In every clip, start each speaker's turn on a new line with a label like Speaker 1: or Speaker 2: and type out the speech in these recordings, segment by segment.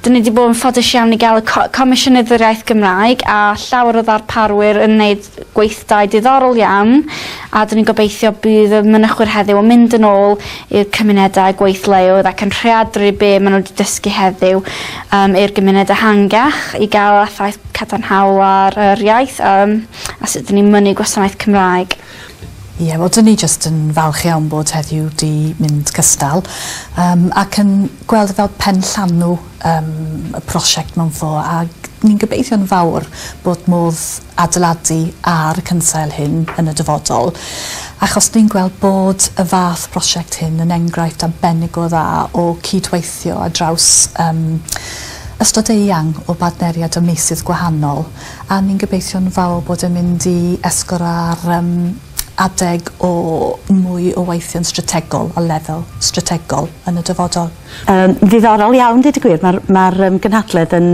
Speaker 1: Dyn ni 'di bod yn ffodus iawn i ga'l y co- Comisiynydd yr Iaith Gymraeg a llawer o ddarparwyr yn neud gweithdai diddorol iawn a 'dyn ni'n gobeithio bydd y mynychwyr heddiw yn mynd yn ôl i'r cymunedau gweithleoedd ac yn rheadru be' ma' n'w 'di dysgu heddiw yym i'r gymuned ehangach i ga'l effaith cadarnhaol ar yr iaith yym a sut 'dyn ni'n mynnu gwasanaeth Cymraeg. Ie, wel
Speaker 2: 'dyn ni jyst yn falch iawn bod heddiw 'di mynd cystal yym ac yn gweld e fel penllanw yym y prosiect mewn ffor ag ni'n gobeithio'n fawr bod modd adeiladu ar y cynsail hyn yn y dyfodol achos ni'n gweld bod y fath prosiect hyn yn enghraifft arbennig o dda o cyd-weithio ar draws yym ystod eang o bartneriaid a meysydd gwahanol. a ni'n gobeithio'n fawr bod e'n mynd i esgor ar yym adeg o mwy o weithio'n strategol a lefel strategol yn y dyfodol. Yym ddiddorol
Speaker 3: iawn deud y gwir. Ma'r ma'r yym gynhadledd yn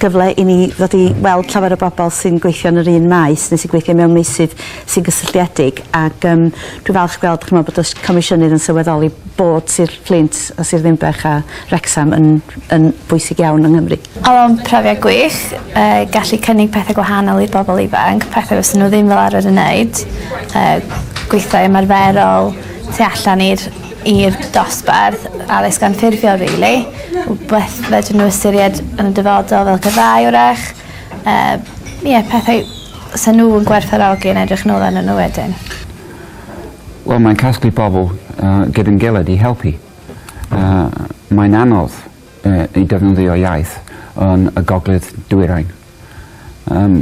Speaker 3: gyfle i ni ddod i weld llawer o bobl sy'n gweithio yn yr un maes neu sy'n gweithio mewn meysydd sy'n gysylltiedig ac yym dwi'n falch gweld ch'mo' bod y s- comisiynydd yn sylweddoli bod Sir Fflint a Sir Ddinbych a Wrecsam yn yn bwysig iawn yng Nghymru. Oedd o'n profiad
Speaker 1: gwych, yy gallu cynnig pethe gwahanol i'r bobol ifanc, pethe fysa n'w ddim fel arfer yn neud, yy gweithdai ymarferol tu allan i'r i'r dosbarth, addysg anffurfiol rili, wbath fedrwn n'w ystyried yn y dyfodol fel gyrfaoedd 'w'rach. Yy ie pethau sa n'w yn gwerthfawrogi yn edrych nôl arnyn n'w wedyn.
Speaker 4: Wel mae'n casglu pobol yy gyda'n gilydd i helpu. A mae'n anodd yy i defnyddio iaith yn y gogledd dwyrain. Yym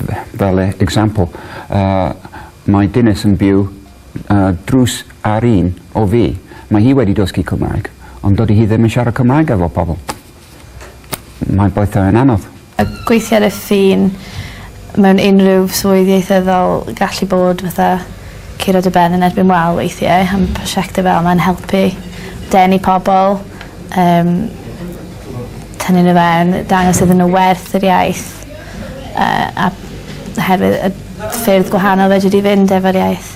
Speaker 4: f- fel e- example yy mae dynes yn byw yy drws ar un o fi. Mae hi wedi dysgu Cymraeg ond dydy hi ddim yn siarad Cymraeg efo pobol. Mae'n boeth a mae'n anodd. A gweithio ar y
Speaker 1: ffin mewn unrhyw swydd ieithyddol gallu bod fatha curo dy ben yn erbyn wal weithie a ma' prosiecte fel 'ma'n helpu denu pobol yym tynnu n'w fewn dangos iddyn n'w werth yr iaith yy a oherwydd y ffyrdd gwahanol fedri di fynd efo'r iaith.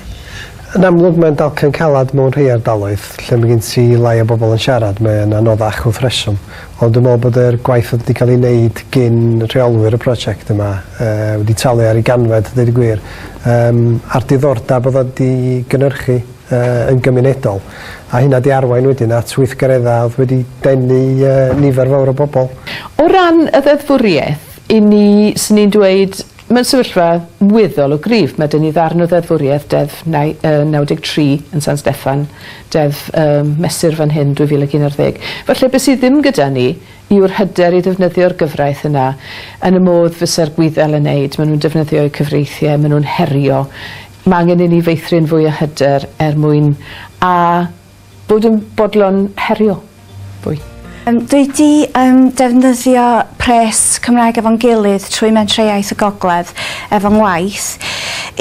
Speaker 1: Yn amlwg
Speaker 5: mae'n dalcen calad mewn rhei ardaloedd, lle mae gen ti lai o bobl yn siarad, mae'n anoddach wrth reswm. Ond dwi'n meddwl bod yr gwaith oedd wedi cael ei wneud gin rheolwyr y prosiect yma yy wedi talu ar ei ganfed, a deud y gwir, yym a'r diddordeb oedd o wedi gynhyrchu yy yn gymunedol. A hynna 'di arwain wedyn at weithgareddau oedd wedi denu yy nifer fawr o bobl. O ran y
Speaker 6: ddeddfwriaeth, 'yn ni, 'swn i'n dweud, Mewn sefyllfa weddol o gryf, mae 'da ni ddarn o ddeddfwriaeth, Deddf 93 yn San Steffan, Deddf Mesur fan hyn 2011. Falle be sydd ddim gyda ni yw'r hyder i ddefnyddio'r gyfraith yna yn y modd fysa'r Gwyddel yn wneud, maen nhw'n defnyddio eu cyfreithiau, maen nhw'n herio. Mae angen i ni feithrin fwy o hyder er mwyn a. Bod yn bodlon herio fwy. Yym dwi 'di
Speaker 3: yym defnyddio pres Cymraeg efo'n gilydd trwy Mentrau-iaith y Gogledd efo ngwaith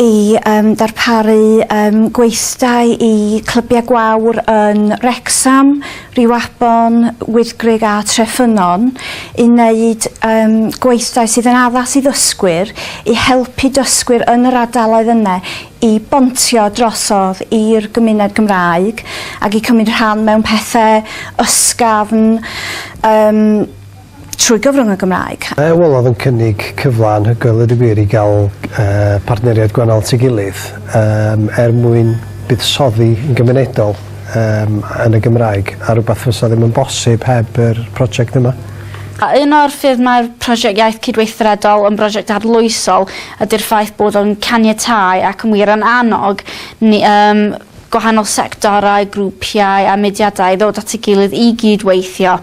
Speaker 3: i yym darparu yym gweithdai i clybiau gwawr yn Wrecsam, Rhiwabon, Wyddgrug a Treffynnon i wneud yym gweithdai sydd yn addas i ddysgwyr i helpu dysgwyr yn yr ardaloedd yna i bontio drosodd i'r gymuned Gymraeg ac i cymryd rhan mewn pethe ysgafn yym trwy gyfrwng y Gymraeg. Mae Wolof yn cynnig
Speaker 5: cyfle anhygoel ddweud y gwir i gael yy partneriaid gwahanol at ei gilydd yym er mwyn buddsoddi yn gymunedol yym yn y Gymraeg a rwbath fysa ddim yn bosib heb yr project yma. A un o'r
Speaker 1: ffyrdd mae'r Prosiect Iaith Cydweithredol yn brosiect arloesol Ydy'r ffaith bod o'n caniatáu ac yn wir yn annog ni, yym, gwahanol sectorau, grwpiau a mudiadau i ddod at ei gilydd i gyd-weithio.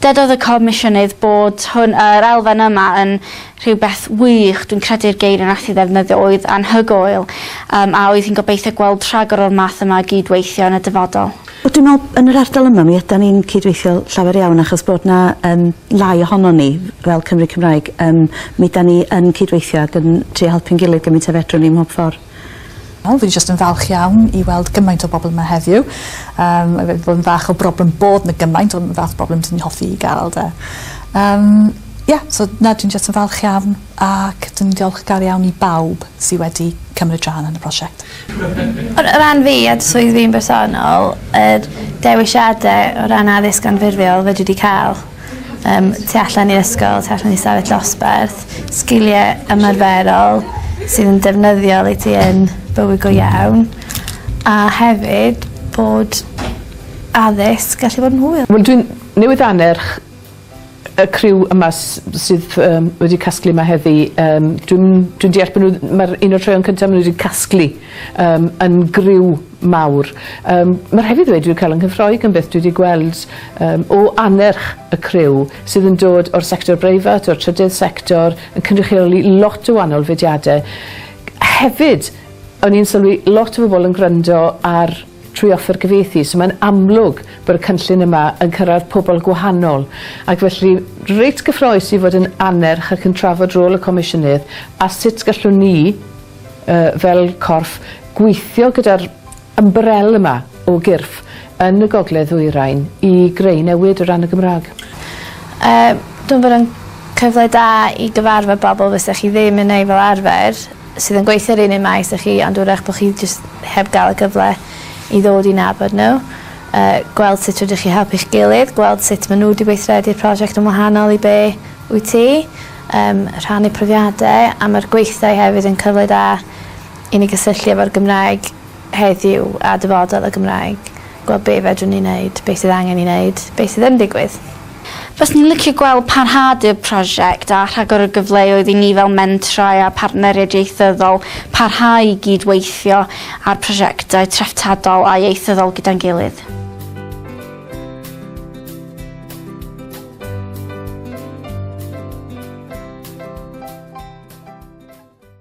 Speaker 1: Dydodd y Comisiynydd bod hwn, yr elfen yma, yn rhywbeth wych, dwi'n credu'r geiriau nath hi ddefnyddio oedd anhygoel, yym, a oedd hi'n gobeithio gweld rhagor o'r math yma o gyd-weithio yn y dyfodol. Wel dwi'n me'wl yn yr
Speaker 3: ardal yma mi ydan ni'n cydweithio llawer iawn achos bod 'na yym lai ohonon ni fel Cymry Cymraeg yym mi 'dan ni yn cydweithio ag yn trio helpu'n gilydd gymint a fedrwn ni mhob ffor. Wel fi jyst
Speaker 2: yn falch iawn i weld gymaint o bobol yma heddiw yym mae wedi bod yn fach o broblem bod 'na gymaint on' y fath broblem 'dyn ni hoffi 'i ga'l 'de? Yym ie so na dwi'n jyst yn falch iawn ac dwi'n ddiolchgar iawn i bawb sy wedi cymryd rhan yn y prosiect. O
Speaker 7: ran fi a swydd fi'n bersonol, yr dewisiade o ran addysg anffurfiol fedri di ca'l yym tu allan i ysgol tu allan i stafell dosbarth sgilie ymarferol sydd yn defnyddiol i ti yn bywyd go iawn a hefyd bod addysg gallu bod yn hwyl. Wel dwi'n newydd
Speaker 6: annerch y criw yma sydd yym wedi casglu yma heddi yym dwi'n dwi'n deall bod nhw mae'r un o'r traeon cyntaf maen nhw wedi casglu yym yn griw mawr yym mae'r hefyd ddweud dwi'n cael yng Nghyffroi gan beth dwi wedi gweld yym o anerch y criw sydd yn dod o'r sector breifat o'r trydydd sector yn cynrychioli lot o wahanol fudiadau hefyd o'n i'n sylwi lot o bobl yn gwrando ar trwy offer cyfieithu. So mae'n amlwg bod y cynllun yma yn cyrraedd pobl gwahanol, ac felly reit gyffroes i fod yn annerch ac yn trafod rôl y Comisiynydd a sut gallwn ni, uh, fel corff, gweithio gyda'r ymbarel yma o gyrff yn y gogledd ddwyrain i greu newid o ran y Gymraeg. Uh,
Speaker 7: dwi'n bod yn cyfle da i gyfarfod bobl fysa chi ddim yn ei fel arfer sydd yn gweithio yr un un maes â chi ond 'w'rach bod chi jyst heb gael y gyfle i ddod i nabod nhw, yy gweld sut rydych chi helpu'ch gilydd, gweld sut maen nhw wedi gweithredu'r prosiect yn wahanol i be wyt ti, yym rhannu profiadau a mae'r gweithdai hefyd yn cyfle da i ni gysylltu efo'r Gymraeg heddiw a dyfodol y Gymraeg, gweld be fedrwn ni wneud, be sydd angen i wneud, be sydd yn digwydd. Faswn i'n
Speaker 1: licio gweld parhad i'r prosiect a rhagor o gyfleoedd i ni fel mentrau a phartneriaid ieithyddol parhau i gyd-weithio ar prosiectau treftadol a ieithyddol gyda'n gilydd.